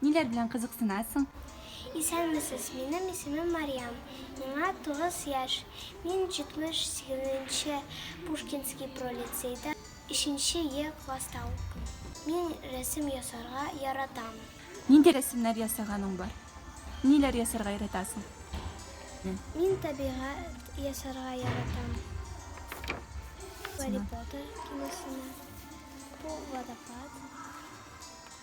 Ниләр белән кызыксынасың? Исәнмесез, минем исемем Марьям, миңа тугыз яшь. Мин 78 нче Пушкинский пролицейда өченче Е класста укыйм. Мин рәсем ясарга яратам. Нинди рәсемнәр ясаганың бар? Ниләр ясарга яратасың? Мин табигать ясарга яратам. Гарри Поттер киносына. Бу водопад.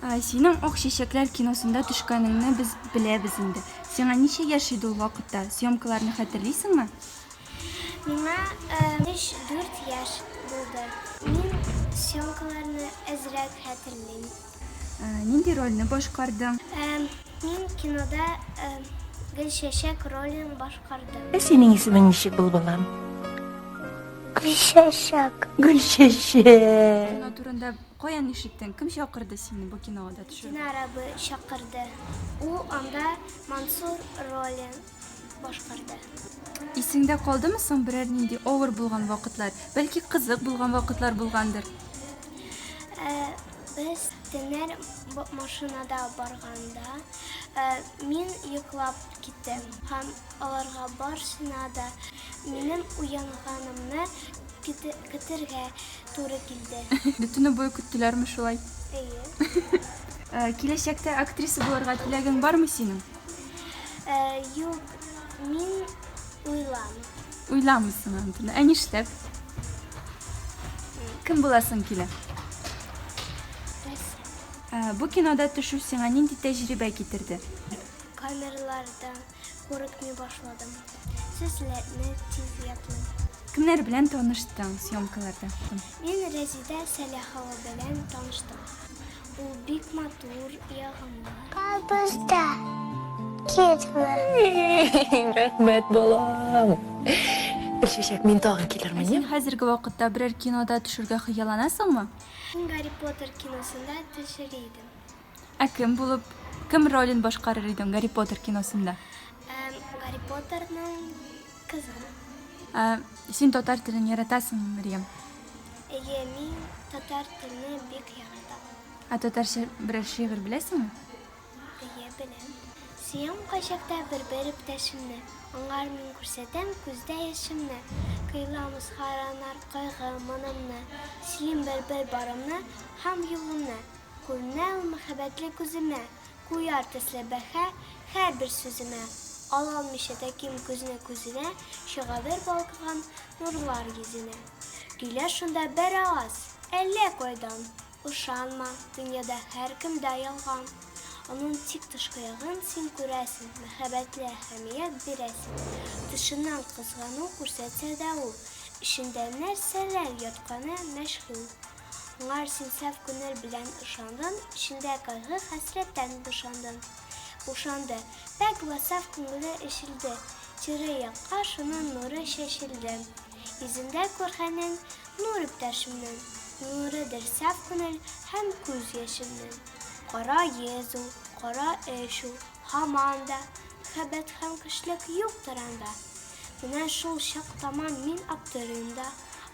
Синең Ак чәчәкләр киносында төшкәнеңне без беләбез инде. Сиңа ничә яшь иде ул вакытта? Съемкаларны хәтерлисеңме? Миңа 3-4 яшь булды. Мин съемкаларны әзрәк хәтерлим. Нинди рольне башкардың? Мин кинода Гөлчәчәк ролен башкардым. Ә синең исемең ничек булды, балам? Гөлчәчәк. Гөлчәчәк. Кино турында Каян ишеттең? Кем чакырды сине бу кинога да төшәргә? Динар абый чакырды. Ул анда Мансур ролен башкарды. Исеңдә калдымы соң берәр нинди авыр булган вакытлар? Бәлки кызык булган вакытлар булгандыр? Ә, без Тенер машинада барганда, ә, мин йоклап киттем. Һәм аларга барсына да минем уянганымны көтергә туры килде. Бөтен буе көттеләрме шулай? Әйе. Киләчәктә актриса булырга теләгең бармы синең? Юк, мин уйламыйм. Уйламыйсың андыны. Ә нишләп? Кем буласың килә? Бу кинода төшү сиңа нинди тәҗрибә китерде? Камерлардан. Курыкмый башладым. Сезләрне тиз ятлыйм. Кемнәр белән таныштың съемкаларда? Мин Рәзидә Сәләхова белән таныштым. Ул бик матур, ягымлы. Кабызда. Китмә. Рәхмәт, балам. Гөлчәчәк, мин тагын килермен. Син хәзерге вакытта берәр кинода төшергә хыялланасыңмы? Гарри Поттер киносында төшер идем. Ә кем булып, кем ролен башкарыр идең Гарри Поттер киносында? Гарри Поттерның кызы. Ә син татар телен яратасыңмы, Мәрьям? Әйе, мин татар телен бик яратам. Ә татарча берәр шигырь беләсеңме? Әйе, беләм. Сөям кайчакта бер-бер иптәшемне, аңар мин күрсәтәм күздә яшемне. Кыйлам узхаранар кайгы-монымны, сөйлим бер-бер барымны һәм юлымны. Күренә ул мәхәббәтле күземә, Куяр төсле бәһа һәрбер сүземә. Алалмыйча тәким күзне күзенә, Чыгадыр балкыган нурлар йөзенә. Көйләр шунда беравыз, әллә кайдан, Ышанма, дөньяда һәркемдә ялган. Аның тик тышкы ягын син күрәсең, Мәхәббәтле әһәмият бирәсең. Тышыннан кызгану күрсәтсә дә ул, Эчендә нәрсәләр ятканы мәҗһүл. Моңар син саф күнел белән ышандың, Эчендә кайгы, хәсрәттән бушандың. Бушанды. Пакь вә саф күңеле эчелде, Тирә якка шуның нуры чәчелде. Йөзендә күргәнен, нур иптәшемнең, Нурыдыр саф күнел һәм күз яшемнең. Кара йөз ул, кара эш ул, һаман да, Мөхәббәт һәм көчлек юктыр анда. Менә шул чак таман мин аптырыйм да,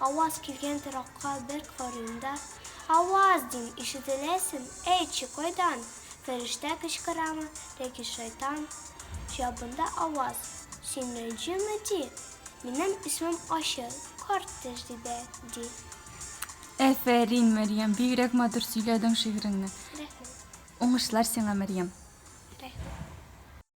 аваз килгән торакка бер карыйм да. Аваз! дим, ишетеләсен, әйтче, кайдан? Фәрештә кычкырамы, тәки шайтан? Җавабында аваз, Син Рәнҗеме? ди. Минем исемем Ачы, карт тәҗрибә, ди. Әфәрин, Мәрьям, бигрәк матур сөйләдең шигыреңне. Рәхмәт. Уңышлар сиңа, Мәрьям. Рәхмәт.